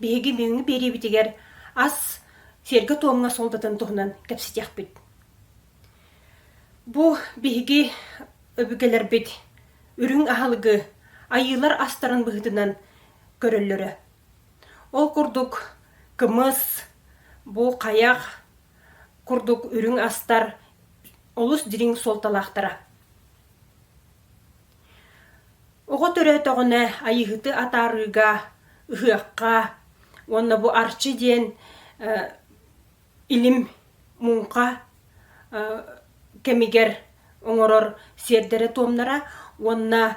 Биһиги бүгүҥҥү биэриибитигэр ас сиэргэ-туомҥа суолтатын туһунан кэпсэтиэхпит. Бу биһиги өбүгэлэрбит үрүҥ аһылыгы айыылар астарын быһыытынан көрөллөрө. Ол курдук кымыс, бу хайах, Курдук үрүҥ астар олус дириҥ суолталаахтара. Оҕо төрөөтөҕүнэ айыыһыты атаарыыга, ыһыахха уонна бу Арчы диэн илим муҥха кэмигэр оҥорор сиэрдэрэ-туомнара уонна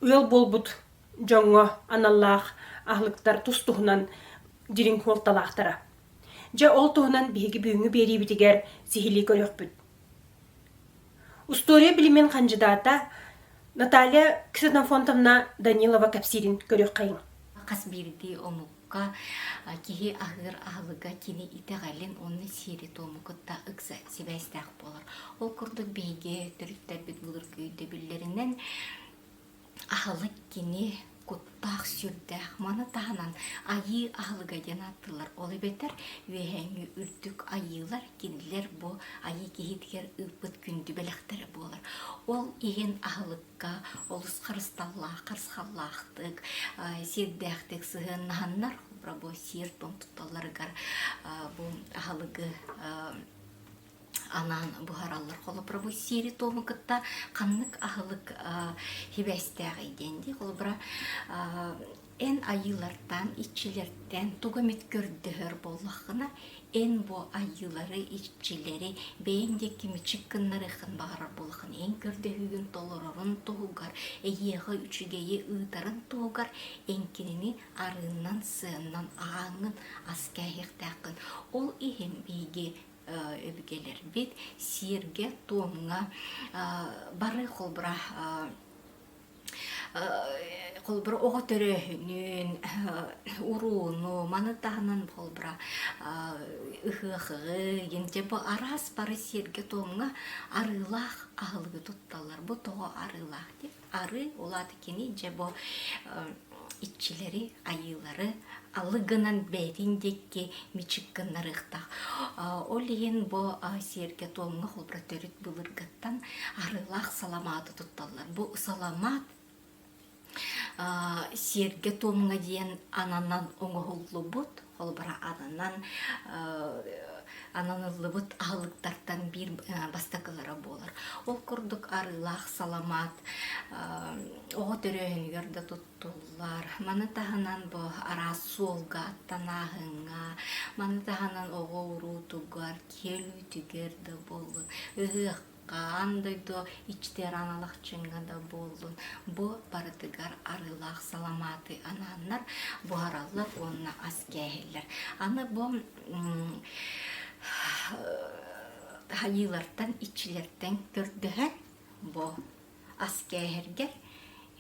ыал буолбут дьоҥҥо аналлаах аһылыктар тус туһунан дириҥ суолталаахтара. Дьэ ол туһунан биһиги бүгүҥҥү биэриибитигэр сиһилии көрүөхпүт. Устуоруйа билимин хандьыдаата Наталья Ксенофонтовна Данилова кэпсиирин көрүөххэйиҥ. Хас биирдии омукка киһи аһыыр аһылыга кини итэҕэлин уонна сиэри-туому кытта ыкса сибээстээх буолар. Ол курдук биһиги төрүттэрбит былыргы өйдөбүллэринэн Аһылык кини куттаах сүрдээх. Маны таһынан айыы аһылыга диэн ааттыыллар. Ол эбэтэр үөһээҥи үрдүк айыылар кинилэр бу айыы киһитигэр ыыппыт күндү бэлэхтэрэ буолар. Ол иһин аһылыкка олус харысталлаах, харысхаллаахтык, сиэрдээхтик сыһыаннаһаннар рабочий сир тон тутталларыгар бу аһылыгы анаан буһараллар холобуровой сири туому кытта ханнык аһылык хибээстээҕий диэн дии холобура эн айыылартан иччилэртэн тугу эмит көрдөһөр буоллаххына эн бу айыылары иччилэри бэйэҥ диэки кимичик гыннарыаххын баҕарар буоллаххына эн көрдөһүүгүн толорорун туһугар эйиэхэ үчүгэйи ыытарын туһугар эн кинини арыыннан сыаннан ааҥҥын ас кээһиэхтээххин ол иһин биһиги өбүгэлэрбит сиэргэ-туомҥа бары холбура холбура оҕо төрөөһүнүн урууну маны таһынан холбура ыһыахыгын дьэ бу араас бары сиэргэ-туомҥа арыылаах аһылыгы тутталлар бу тоҕо арыылаах диэн Арыы улаат кини дьэ бу иччилэри, айыылары алыгынан бэйэтин диэки мичик гыннарыахтаах. Ол иһин бу сиэргэ туомҥа холборо төрүт былыргыттан арыылаах саламааты тутталлар. Бу саламаат сиэргэ туомҥа диэн ананан оҥоһуллубут холобура ананан ананыллыбыт аһылыктартан биир бастакылара буолар ол курдук арыылаах саламат оҕо төрөөһүнүгэр да туттуллар маны таһынан бу араас суолга аттанааһыҥҥа маны таһынан оҕо уруутугар киэлитигэр да буоллун ыһыах Хаан дойду ичтиараналахчыҥҥа да буоллун, бу барытыгар арыылаах саламааты анааннар буһараллар уонна ас кээһиллэр. Аны бу хайыылартан, иччилэртэн көрдөһөн, бу ас кээһэргэр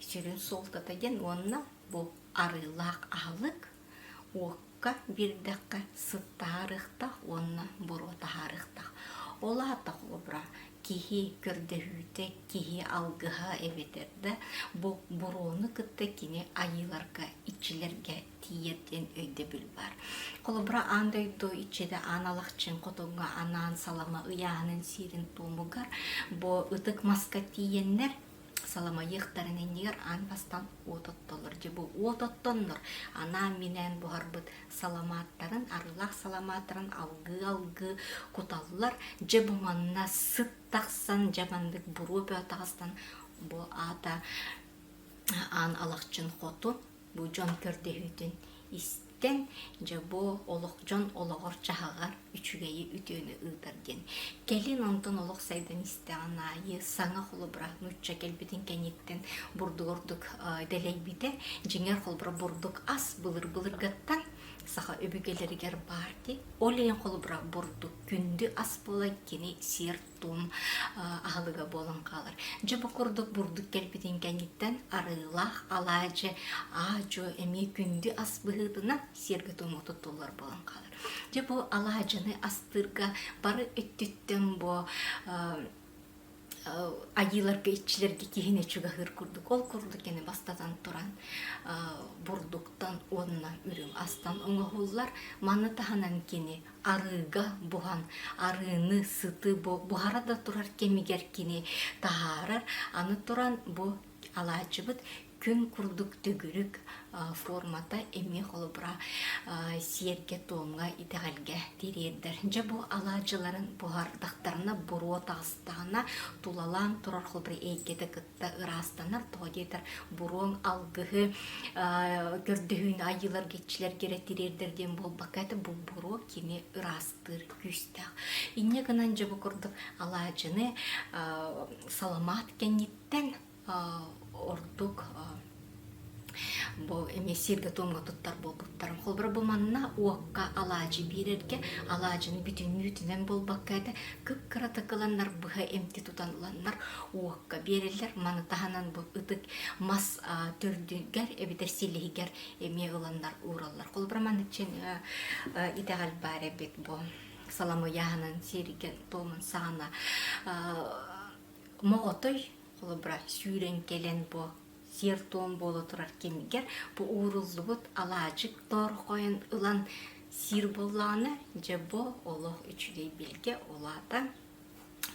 сүрүн суолтата диэн уонна бу арыылаах аһылык Уокка биэрдэххэ сыттаһарыахтаах уонна буруо таһаарыахтаах. Ол аата холобура киһи көрдөһүүтэ, киһи алгыһа эбэтэр да бу буруону кытта кини айыыларга, иччилэргэ тиийэр диэн өйдөбүл баар. Холобура аан дойду иччитэ аан алахчын хотугу анаан салама ыйааһынын сиэрин туомугар бу ытык маска тиийэннэр Саламайыахтарын иннигэр аан бастаан уот оттолор. Дьэ бу уот оттоннор анаан-минээн буһарбыт саламааттарын, арыылаах саламааттарын алгыы-алгыы куталлар. Дьэ бу манна сыт тахсан, дьэ маннык буруо бөө тахсан бу аата аан алахчын хоту, бу дьон көрдөһүүтүн ис киниттэн дьэ бу олох дьон олоҕор-дьаһаҕар үчүгэйи үтүөнү ыытар диэн кэлин онтон олох сайдан истэҕин аайы саҥа холобура нуучча кэлбитин кэнниттэн бурдугурдук дэлэйбитэ дьиҥэр холбура бурдук ас былыр былыргаттан саха өбүгэлэригэр баар дии ол иһин холобура бурдук күндү ас буолан кини сиэр тутуум аһылыга буолан хаалар. Дьэ бу курдук бурдук кэлбитин кэнниттэн арыылаах алаадьы, аадьо эмиэ күндү ас быһыытынан сиэргэ туому туттуллар буолан хаалар. Дьэ бу алаадьыны астыырга бары өттүттэн бу айыыларга иччилэргэ киһини чугаһыыр курдук. Ол курдук яны бастатан туран бурдуктан уонна үрүҥ астан оҥоһуллар. Маны таһынан кини арыыга буһан арыыны сыты буһара да турар кэмигэр кини таһаарар аны туран бу алаадьыбыт күн курдук төгүрүк формата эмиэ холобура сиэргэ-туомҥа итэҕэлгэ тириэрдэр дьэ бу алаадьыларын буһардахтарына буруо таҕыстаҕына тулалаан турар холбура эйгэтэ ыраастанар тоҕо диэтэр буруоҥ алгыһы көрдөһүүнү айыылар кичилэргэрэ тириэрдэр диэн буолбакка этэ бу буруо кини ыраастыыр күүстээх инньэ гынан дьэ бу курдук алаадьыны саламаат кэнниттэн ордук бу эмиссиир да туомга туттар буолбуттарым холобура бу манна уокка алаадьы биэрэргэ алаадьыны бүтүннүүтүнэн буолбакка этэ кыккыратык ыланнар быһа эмти тутан ыланнар уокка биэрэллэр маны таһынан бу ытык мас төрдүгэр эбэтэр силиһигэр эмиэ ыланнар уураллар холобура маныччын итэҕэл баар эбит бу саламыйаһанан сиэригэн туомун саҕана моҕотой холобура сүүрэн кэлэн бу сиэр-туом буола турар кэмигэр бу ууруллубут алаадьык тоор хойон ылан сиир буоллаҕына дьэ бу олох үчүгэй билгэ улаата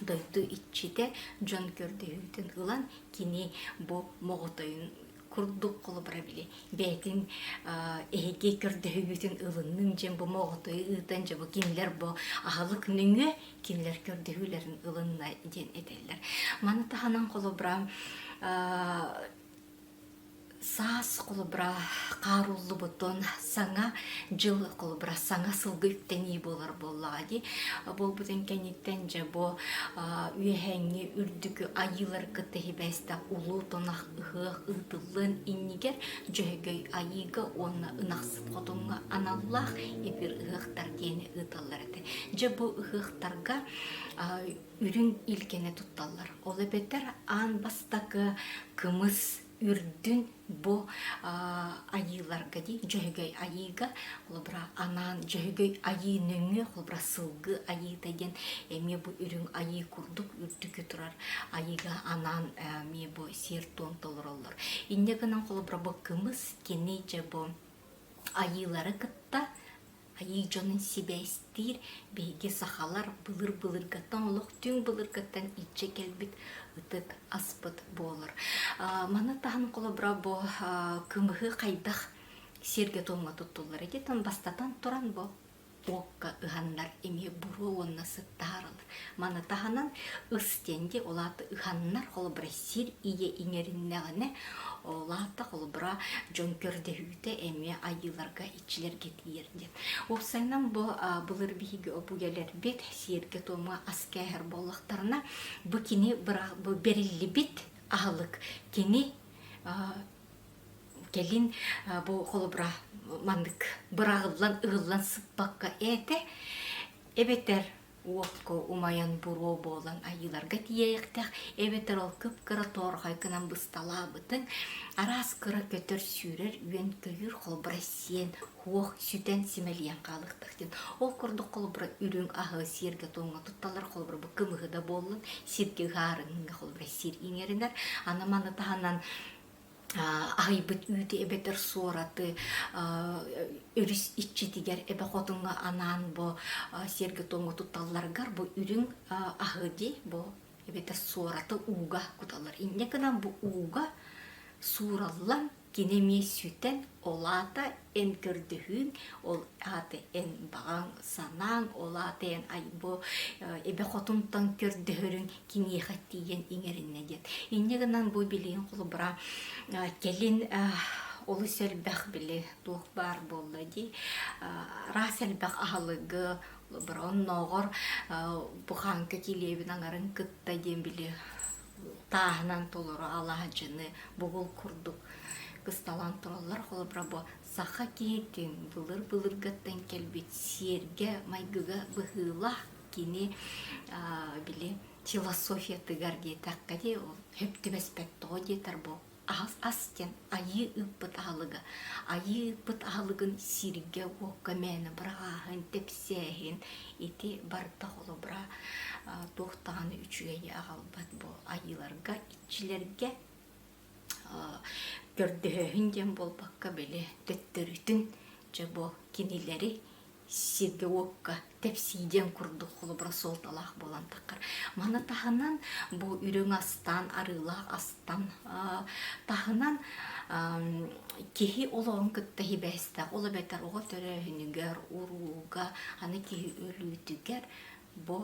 дойду иччитэ дьон көрдөһүүтүн ылан кини бу моҕотойун курдук холобура били бэйэтин эһиги көрдөһүүгүтүн ылынным дьэн бу моҕотойу ыытан дьэ бу кинилэр бу аһылык нөҥүө кинилэр көрдөһүүлэрин ылынна диэн этэллэр. Маны таһынан холобура саас холобура хааруллубутун саҥа дьыл холобура саҥа сылгы үктэнии буолар буоллаҕа дии буолбутун кэнниттэн дьэ бу үөһээҥҥи үрдүкү айыылар кытта хибээстэх улуу тунах ыһыах ыытыллыан иннигэр дьөһөгөй айыыга уонна ынахсыт хотуҥҥа аналлаах эпир ыһыахтар диэни ыыталлар этэ Дьэ бу ыһыахтарга үрүҥ илгини тутталлар. Ол эбэтэр аан бастакы кымыс үрдүн бу айыыларга дии Дьөһөгөй айыыга, холобура анаан Дьөһөгөй айыы нөҥүө, холобура сылгы айыыта диэн эмиэ бу үрүҥ айыы курдук үрдүкү турар айыыга анаан эмиэ бу сиэр-туом толороллор. Инньэ гынан холобура бу кымыс кини дьэ бу айыылары кытта Айыы дьонун сибээстиир биһиги сахалар былыр-былыргаттан олох түҥ былыргаттан илдьэ кэлбит ытык аспыт буолар. Маны таһын холобура бу кымыһы хайдах сиргэ-туомҥа туттуллар этитин бастатан туран бу окко ыһаннар эмиэ буруо уонна сыттааралар. Маны таһынан ыс тенди улаата ыһаннар холобура сир ийэ иҥэриннэҕинэ улаата холобура дьон көрдөһүүтэ эмиэ айыыларга чилэргэтиир диэн. Уопсайынан бу былыр биһиги обуйаларбыт сиэргэ-туомҥа ас кээһэр буоллахтарына, бу кини бу бэриллибит аһылык кини кэлин бу холобура маннык быраҕыллан ыгыллан сыппакка ээтэ эбэтэр уотко умайан буруо буолан айыыларга тиийээхтэх эбэтэр ол кып-кыра тоорхой гынан бысталаабытын араас кыра көтөр сүүрэр үөн көйүүр холбура сиэн хуох сүтэн симэлийэн хаалыктах диэн ол курдук холбура үрүҥ аһы сиэргэ тоҥҥо тутталар холбура бу кымыһы да буоллун сиргэ ыһаарынга холбура сир иҥэринэр аны маны таһынан аһыйбыт үүтү эбэтэр суораты өрүс иччитигэр эбэ хотуҥҥа анаан бу сиэргэ-туомҥа туталларгар бу үрүҥ аһы дии бу эбэтэр суораты ууга куталлар инньэ гынан бу ууга суураллан кини эмиэ сүтэн ол аата эн көрдөһүүҥ ол ааты эн баҕаҥ санааҥ ол ааты эн айбо эбэ хотунтан көрдөһөрүҥ киниэхэ тиийэн иҥэриннэ диэт инньэ гынан бу билигин холобура кэлин олус элбэх били туох баар буолла дии араас элбэх аһылыгы олобура оннооҕор бу хааҥка килиэбин аҥарын кытта диэн били тааһынан толору алаадьыны бугул курдук кысталаан тураллар холобура бу саха киһитин былыр былыргаттан кэлбит сиэргэ майгыга быһыылаах кини били философиятыгар диэтэххэ дии ол сөптүбэспэт тоҕо диэтэр бу Ас диэн айыы ыыппыт аһылыга. Айыы ыыппыт аһылыгын сииргэ-уокка мээнэ быраҕааһын, тэпсээһин ити барыта холобура туох даҕаны үчүгэйи аҕалбат бу айыыларга, иччилэргэ көрдөһөөһүн диэн буолбакка били төттөрүтүн дьэ бу кинилэри сиргэ-уокка тэпсии диэн курдук холобура суолталаах буолантаххар маны таһынан бу үрүҥ астаан арыылаах астан таһынан киһи олоҕун кытта сибээстээх ол эбэтэр оҕо төрөөһүнүгэр урууга аны киһи өлүүтүгэр бу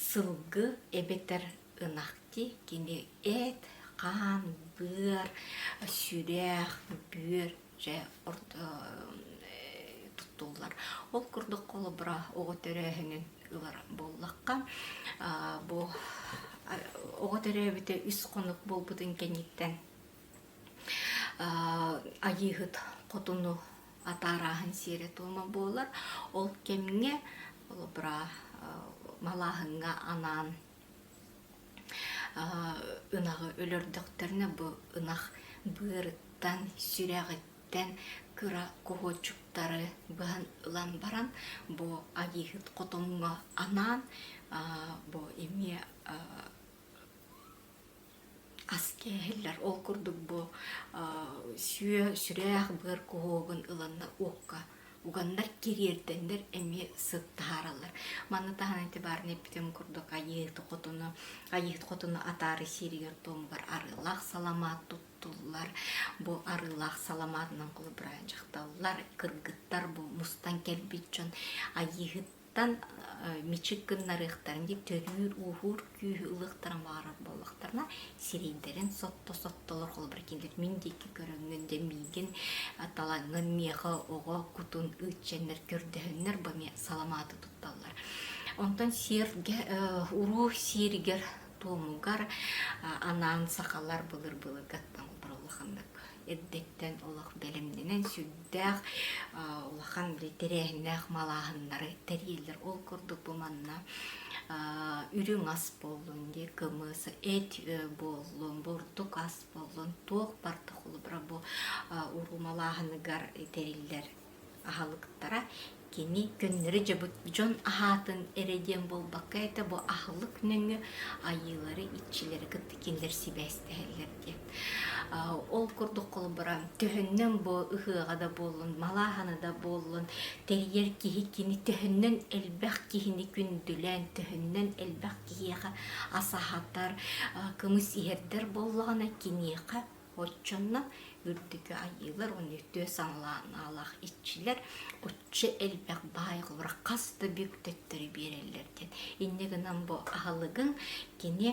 сылгы эбэтэр ынахти кини эт, хаан, быар, сүрэх, бүөр дьэ туттуллар. Ол курдук холобура оҕо төрөөһүнүн ылар буоллахха, бу оҕо төрөөбүтэ үс хонук буолбутун кэнниттэн Айыыһыт хотуну атаарааһын сиэрэ-туома буолар. Ол кэмҥэ холобура малааһыҥҥа анаан ынаҕы өлөрдөхтөрүнэ бу ынах быарыттан, сүрэҕиттэн кыра куһуочуктары быһан ылан баран бу айыыһыт хотоҥҥо анаан бу эмиэ ас кээһиллэр. Ол курдук бу сүө, сүрэх, быар куһуогун ыланна уокка уганнар кириэрдэннэр эмиэ сыт таһаараллар. Манна таһынан итибаарный бүтүн курдук айыыт хотуну айыыт хотуну атаары сииригэр туомугар арыылаах саламаат туттуллар. Бу арыылаах саламаатынан кулубурайан дьахталлар, кыргыттар бу мустан кэлбит дьон айыыһыт тан мичик гыннарыахтарын дии төрүүр ууһуур күүһү ылыахтара баҕарар буоллахтарына сирэйдэрин сотто-сотто олор холобур кинилэр мин диэки көрөҥҥүн дэ миигин талаҥҥын миэхэ оҕо кутун ыччаннар көрдөһөннөр бу эмиэ саламааты тутталлар онтон сиэргэ уруу сиэригэр туомугар анаан сахалар былыр былыргаттан улаханнык эрдэттэн олох бэлэмнэнэн сүрдээх улахан тэрээһиннээх малааһыннары тэрийэллэр ол курдук бу манна үрүҥ ас буоллун дии кымыс эт буоллун бурдук ас буоллун туох барда холобура бу уруу малааһыныгар тэриллэр аһылыктара кини көннөрү дьабыт дьон аһаатын эрэ диэн буолбакка этэ бу аһылык нөҥүө айыылары иччилэри кытта кинилэр сибээстэһэллэр диэн ол курдук холобура төһөннөн бу ыһыаҕа да буоллун малааһана да буоллун тэрийэр киһи кини төһөннөн элбэх киһини күндүлээн төһөннөн элбэх киһиэхэ ас аһатар кымыс иһэрдэр буоллаҕына киниэхэ Оччонно үрдүкү айыылар уонна түөс аҥылаах иччилэр оччо элбэх баайҕылара хас да бүк төттөрү биэрэллэр диэн инньэ гынан бу аһылыгын кини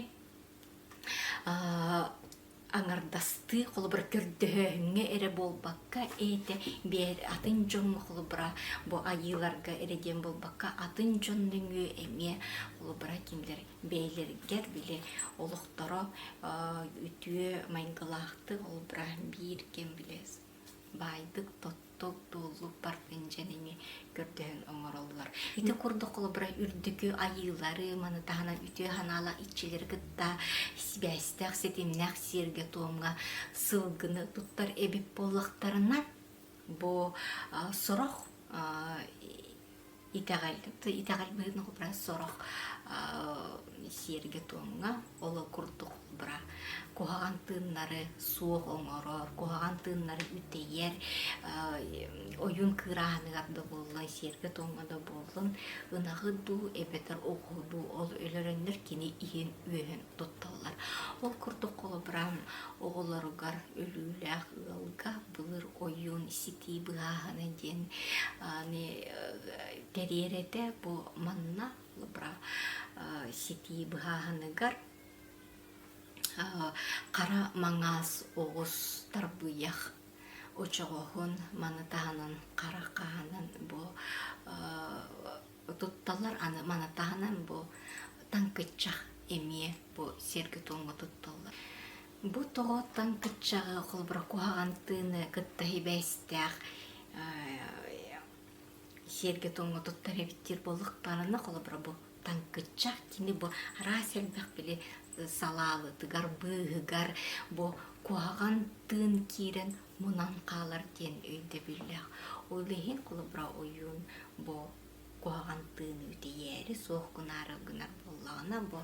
аҥардастыы холобура көрдөһөөһүҥҥэ эрэ буолбакка эйэтэ биэр атын дьон холобура бу айыыларга эрэ диэн буолбакка атын дьон нөҥүө эмиэ холобура кимдэр бэйэлэригэр били олохторо үтүө майгылаахтык олбура биир кэм бile баайдык тотток дуоллук партынжанини көрдөһөн оҥороллор ити курдук холобура үрдүкү айыылары маны таһынан үтүө санаала иччилери кытта сибээстээх ситимнээх сиэргэ туомга сылгыны туттар эбит буоллахтарына бу сорох Итэҕэл, итэҕэл быһыытын холбуран сорох сиэргэ-туомҥа оло курдук холбурар. Куһаҕан тыыннары суох оҥорор, куһаҕан тыыннары үтэйэр, ойуун кыырааһыныгар да буоллун, сиэргэ-туомҥа да буоллун, ынаҕы дуу, эбэтэр оҕуһу дуу ол өлөрөннөр кини иһин-үөһүн тутталлар. Ол курдук холобура оҕолоругар өлүүлээх ыалга былыр ойуун ситии быһааһына диэн аны кэриэрэтэ бу манна бра ситии быһааһыныгар хара маҥаас оҕус тарбыйах очоҕоһун маны таһынан хара хаанын бу тутталар аны маны таһынан бу таҥкыччах эмиэ бу сиргэ туонга тутталлар Бу тоҕооттон кыччаҕы холобура куһаҕан тыыны кытта сибээстээх сиэргэ-туомҥа туттар эбиттиир буоллах баарана холобура бу таҥкыччах кини бу араас элбэх били салаалытыгар быыһыгар бу куһаҕан тыын киирэн мунан хаалар диэн өйдөбүллээх ол иһин холобура ойуун бу куһаҕан тыыны үтэйээри суох гунаарар гынар буоллаҕына бу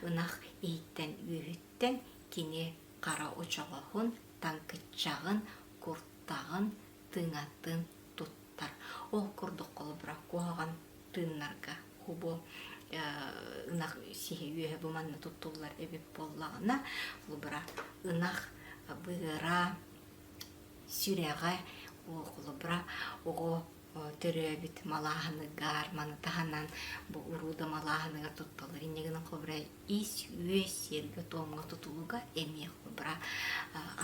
ынах иһиттэн үөһүттэн киниттэн кини хара очоҕоһун, таҥкыччаҕын, куртаҕын, тыҥатын туттар. Ол курдук холобура куһаҕан тыыннарга бу ынах сиһи үөһэ бу манна туттуллар эбит буоллаҕына, холобура ынах быһыара, сүрэҕэ, холобура оҕо төрөөбүт малааһыны гаарманы таһынан бу урууда малааһыныгар тутталар инньэ гынан холобура ис үөс сиэргэ-туомҥа тутулуга эмиэ холобура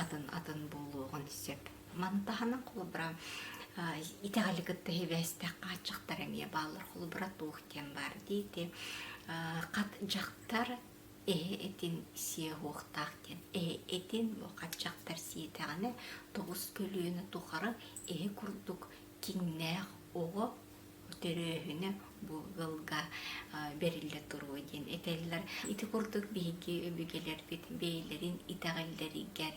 атын атын буолуоҕун сөп маны таһынан холобура итэҕэли кытта сибээстээх хааччахтар эмиэ бааллар холобура туох диэн баар диити хат дьахтар эһэ этин сиэ-уохтаах диэн эһэ этин хаччахтар сиэтэҕинэ тоҕус көлүөнэ тухары эһэ курдук киҥнээх оҕо төрөөһүнэ бу ыалга бэриллэ туруо диэн этэллэр. Ити курдук биһиги өбүгэлэрбит бэйэлэрин итэҕэллэригэр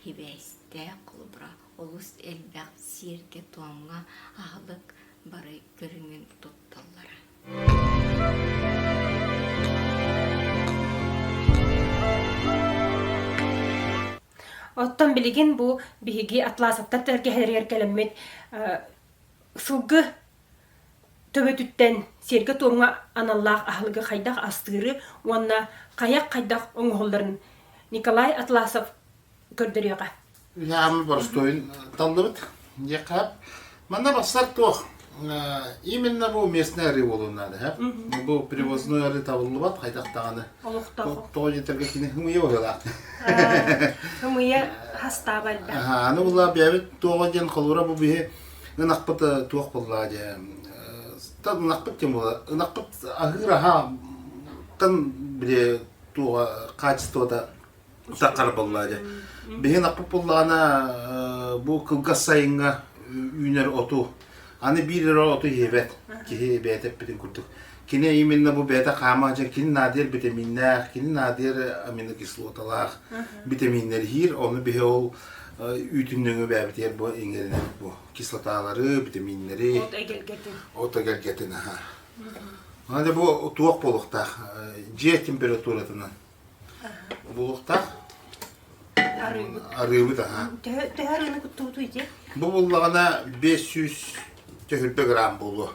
сибээстээх холобура олус элбэх сиэргэ-туомҥа аһылык бары көрүҥүн тутталлара. Оттон билигин бу биһиги атласовтар тэлэргэһэлэригэр кэлэммит сылгы төбөтүттэн сиэргэ-туомҥа аналлаах аһылыгы хайдах астыыры уонна хайах хайдах оҥоһулларын Николай Атласов көрдөрүөҕэ. Ыһаамы боростуойун таллыбыт. Дьиэхап. Манна барсар туох? Именно бу местный арыы буолуон наада. Хап. Бу привозной арыы табыллыбат хайдах даҕаны. Олохтоох. Тоҕо дьитерге кини хымыйа быһыылаах. Хымыйа хастаба элбэх. Аха, аны булла бэбит туоҕа диэн холура бу биһи ынахпыт туох булла дьэ. Ынахпыт кем була? Ынахпыт аһыыр аһааттан бile туоҕа качествота Утаххара боллаадьа. Биһин аппыт буллаана бу кылгас сайыҥҥа үүнэр оту аны биир эрэ оту иһибэт киһи бэйэтэ эппитин курдук. Кини именно бу бэйэтэ хаама дьэ кини наадыйар витаминнаах, кини наадыйар аминокислоталаах витаминнэр иһиир. Ону биһи ол үүтүн нөҥү бэбитигэр бу иҥэринэр бу кислоталары, витаминнэри. От эгэлгэтин. От эгэлгэтин, аха. Аны бу туох болуктаах. Дьиэ температуратынан Булуохтаах арыыбыт аhaa. Төһө арыыны куттуутуй дии? Бу буллаҕына бес сүүс түһүлбэ грамм буолуо.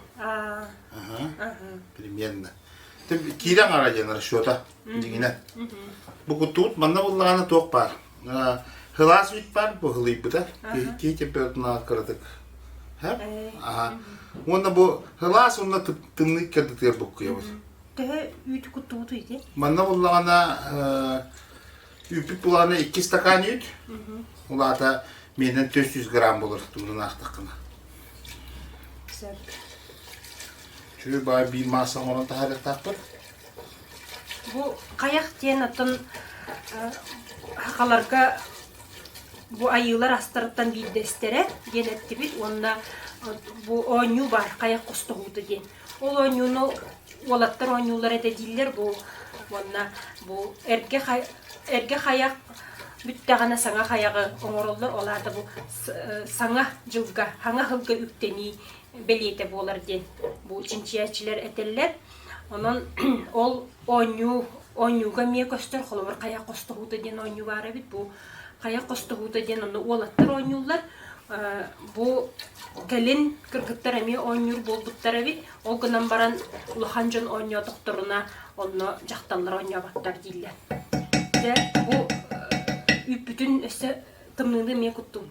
Примерно. Киирэ аҥара диэн расчета. Дигинэ. Бу куттубут манна буллаҕына туох баар. Хылаас вид баар бу хылыйбыта. Киһи температуранаҕа кыратык. Аха. Уонна бу хылаас уонна тымныы кэрдитигэр буккуйабыт. Төһө үүт куттубут үйде? Манна буллаҕына үүппүт булаҕына икки стакан үүт. Улаата менен 400 грамм болор тумдун аахтаккына. Сөп. Чү баа би мааса оңорон тахарыктаахпыр. Бу каяк диэн атын хақаларга бу айыылар астарыттан биирдэстэрэ диэн эттибит уонна бу оонньуу баар каяк хостоһуута диэн Ол оонньууну уолаттар оонньууллар этэ дииллэр бу уонна бу эргэ хай эргэ хайах бүттэҕинэ саҥа хайаҕы оҥороллор ол аата бу саҥа дьылга саҥа сылга үктэнии бэлиэтэ буолар диэн бу чинчийээччилэр этэллэр онон ол оонньуу оонньууга эмиэ көстөр холобур хайах хостоһуута диэн оонньуу баар эбит бу хайа хостоһуута диэн онно уолаттар оонньууллар. Бу кэлин кыргыттар эмиэ оонньуур буолбуттар эбит. Ол гынан баран улахан дьон оонньоотохторуна онно дьахталлар оонньооботтор дииллэр. Дьэ бу үүппүтүн өссө тымныыны эмиэ куттуум.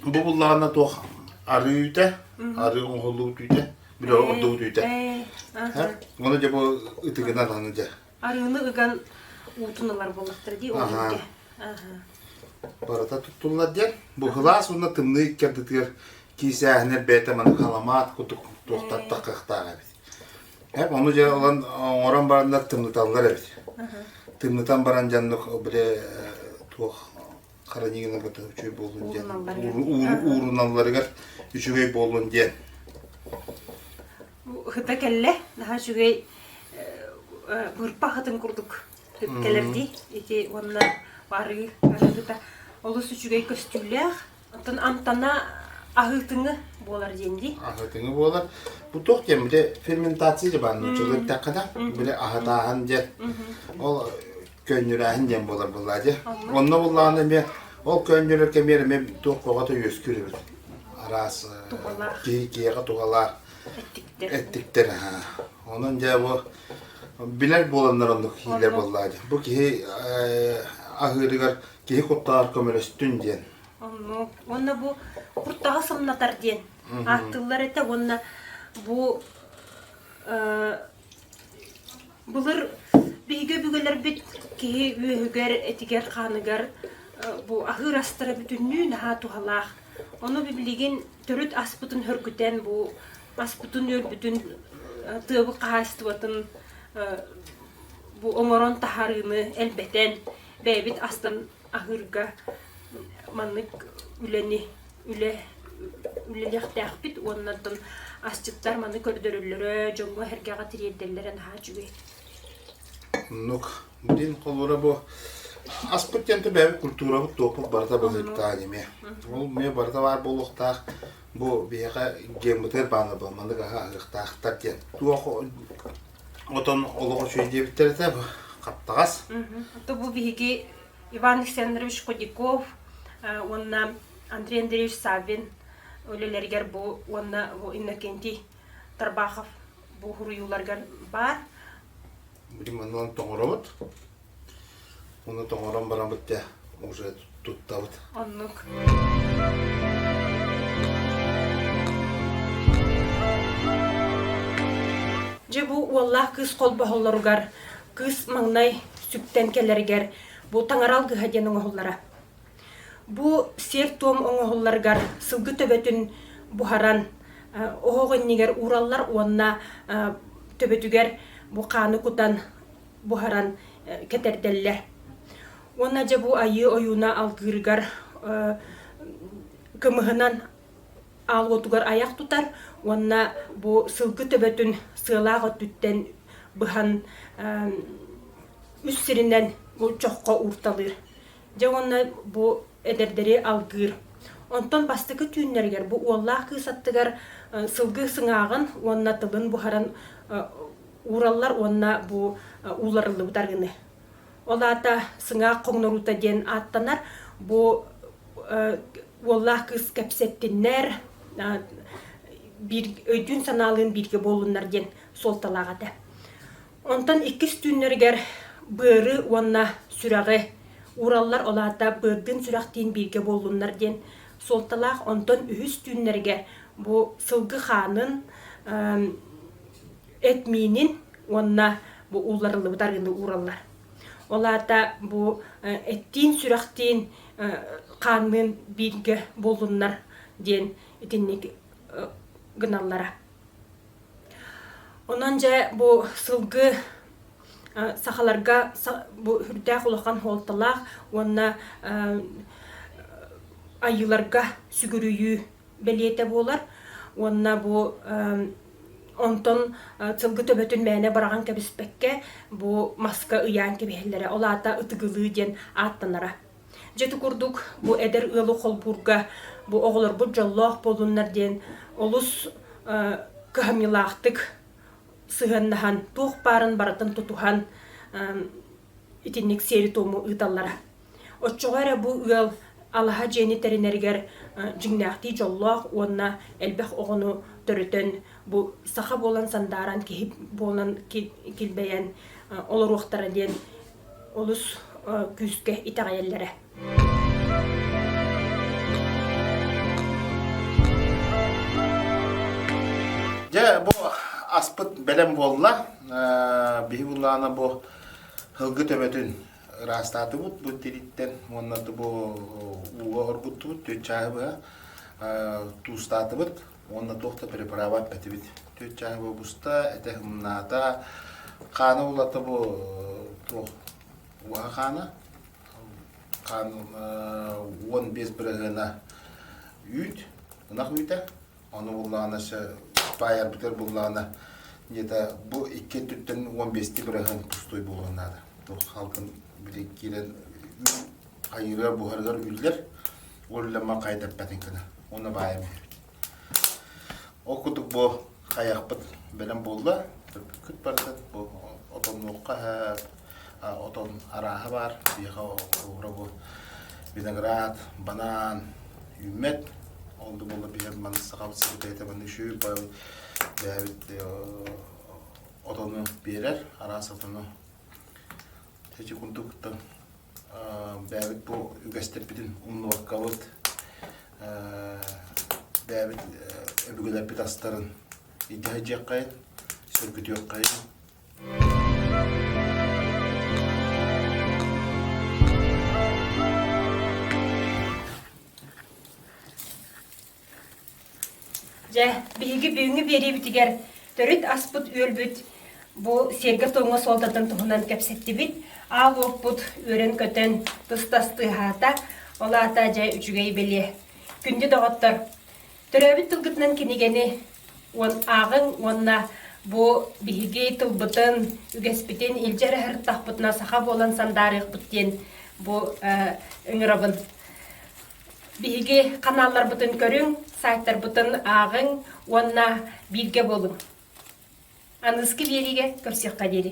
Бу буллаҕына туох арыы үүтэ, арыы оҥоһулуу үүтэ, били ордук үүтэ. Оны дьэ бу ытыгынан аны дьэ Арыыны ыган уутун ылар буоллахтара дии. Ол күнгэ. Барыта туттуллар диэн, быһылаас уонна тымныы икки ардытыгар киисээһинэр бэйэтэ маны халамаат кутук туохтаттах кыахтаах эбит. Һэ, ону дьэ ылан оҥорон бараннар тымныталлар эбит. Тымнытан баран дьаннык били туох хараньыынабыта үчүгэй буолуон диэн ууруналларыгар үчүгэй буолуон диэн Хыта кэллэ наһаа үчүгэй бырпа хатын курдук кэлэрди ити уонна барыы хыта олус үчүгэй көстүүлээх оттон амтана аһыытыңы буолар диэн дии аһыытыңы буолар бу туох диэн бile ферментация же баар ночылы да ол ол көөнньүрээһин диэн буолар буоллаа дьэ. Онно буллаҕына эмиэ ол көөнньөрөр кэмиэр эмиэ туох көҕөтө үөскүүр эбит. Араас киһиэҕэ тугалаах эттиктэр. Онон дьэ бу билэр буоланнар оннук иилэр буоллаа дьэ. Бу киһи аһыырыгар киһи куттанар көмөлөстүн диэн. Уонна бу куртаҕа сымнатар диэн ааттыыллар этэ уонна бу Былыр биһиги өбүгэлэрбит киһи үөһүгэр, этигэр-хааныгар бу аһыыр астара бүтүннүү наһаа туһалаах. Ону билигин төрүт аспытын хөргүтэн бу аспытын-үөлбүтүн, тыабык хаһаайыстыбатын бу оҥорон таһаарыыны элбэтэн, бэйэбит астан аһыырга маннык үлэни үлэ үлэлиэхтээхпит уоннартан асчыттар маны көрдөрөллөрө дьоҥҥо-сэргэҕэ тириэрдэллэрэ наһаа үчүгэй Оннук. Дин холура бу аспыт диэнте бэйэбит культурабыт туоппут барыта быһыыттаах аниме. Ол ме барыта баар буолуохтаах бу биһиэхэ геймбытыгар баана бу маннык аһа аһыахтаахтар диэн. Туох отон олох үчүгэй диэбиттэр этэ бу хаптаҕас. То бу биһиги Иван Александрович Кудяков уонна Андрей Андреевич Саввин үлэлэригэр бу уонна бу Иннокентий Тарбахов бу суруйууларыгар баар. Ремонтан тоңоробут. Оны тоңорон баран бітте уже туттабыт. Оннук. Дьэ бу уоллаах кыыс холбоһоллоругар Кыыс маҥнай сүктэн кэлэригэр бу таҥара алгыһа диэн оҥоһуллара. Бу сиэр-туом оҥоһулларыгар сылгы төбөтүн буһаран оһох иннигэр уураллар уонна төбөтүгэр бу хааны кутан буһаран кэтэрдэллэр. Уонна дьэ бу айыы ойууна алгыырыгар кымыһынан аал уотугар айах тутар уонна бу сылгы төбөтүн сыалаах өттүттэн быһан үс сиринэн чоххо уурталыыр дьэ уонна бу эдэрдэри алгыыр онтон бастакы түүннэригэр бу уоллаах кыыс аттыгар сылгы сыҥааҕын уонна тылын буһаран уураллар уонна бу ууларыллыбыт арыгыны Ол аата сыҥаах хоҥноруута диэн ааттанар. Бу уоллаах кыыс кэпсэттиннэр биир өйдүүн санаалыын бииргэ буолуннар диэн суолталаах этэ. Онтон иккис түүннэригэр быары уонна сүрэҕи уураллар, ол аата быардыын сүрэхтиин бииргэ буоллуннар диэн суолталаах. Онтон үһүс түүннэригэр бу сылгы хаанын эт миинин уонна бу уларыллыбыт арыыны уураллар. Ол аата бу эттиин, сүрэхтиин, хаанныын бииргэ булуннар диэн итинник гыналлара. Онон дьэ бу сылгы сахаларга бу үрдээх улахан хуолталаах уонна айыыларга сүгүрүйүү бэлиэтэ буолар. Уонна бу онтон сылгы төбөтүн мээнэ быраҕан кэбиспэккэ бу маска ыйаан кэбиһэллэрэ. Ол аата ытыгылыы диэн ааттанара. Дьэ, курдук бу эдэр ыалы холбуурга бу оҕолорбут дьоллоох буолуннар диэн олус кыһамньылаахтык сыһыаннаһан, туох баарын барытын тутуһан итинник сиэри-туому ыыталлара. Оччоҕо эрэ бу ыал алаһа дьиэни тэринэригэр дьиҥнээхтии дьоллоох уонна элбэх оҕону төрөтөн бу саха буолан сандааран киһи буолан килбэйэн олоруохтара диэн олус күүскэ итэҕэйэллэрэ. Дьэ бу аспыт бэлэм буолла. Биһи улаана бу һылгы төбөтүн ыраастаатыбыт бу тириттэн уонна бу ууга оргуттубут түөрт чааһы быһа туустаатыбыт уонна туох да препарабат этибит түөрт чааһы бу буста этэ ымнаата хаана улата бу туох уаха хаана хаан уон биэс бырыһыана үүт ынах үүтэ Ону буллаҕына сөп баайарбытыгар буллаҕына дьиэтэ бу икки өттүттэн уон биэсти бырайхан пустой буолуо наада. Туох халкын били киирэн хайырыгар буһарыгар үллэр уллама хайдаппатын кына. Оны баайам Ол кутук бу хайахпыт бэлэм буолла. Күт бардык бу отоннуохха Отон арааһа баар. Биһиэхэ оҕура бу виноград, банан, үүммэт. Ол да буоллар биһиэхэ маны сахабыт сирэ бэйэтэ манна үчүгэй бэйэбит отону биэрэр, араас отону эти курдук кытта бэйэбит бу үгэстэрбитин умнубаккабыт бэйэбит өбүгэлэрбит астарын илдьэ сылдьыаххайын, сөргүтүөххэйин Дьэ, биһиги бүгүҥҥү биэриибитигэр төрүт аспыт үөлбүт бу сиэргэ-туомҥа суолтатын туһунан кэпсэттибит. Аал уоппут үөрэн-көтөн, тус-тас тыаһаата. Ол аата дьэ үчүгэй бэлиэ. Күндү доҕоттор, Төрөөбүт тылгытынан кинигэни ааҕыҥ уонна бу биһиги тылбытын, үгэспитин илдьэ эрэ сырыттахпытына саха буолан сандаарыахпыт диэн бу ыҥырабын. Биһиги ханаалларбытын көрүҥ, сайтарбытын ааҕыҥ уонна бииргэ буолуҥ. Аныгыскы биэриигэ көрсүөххэ диэри.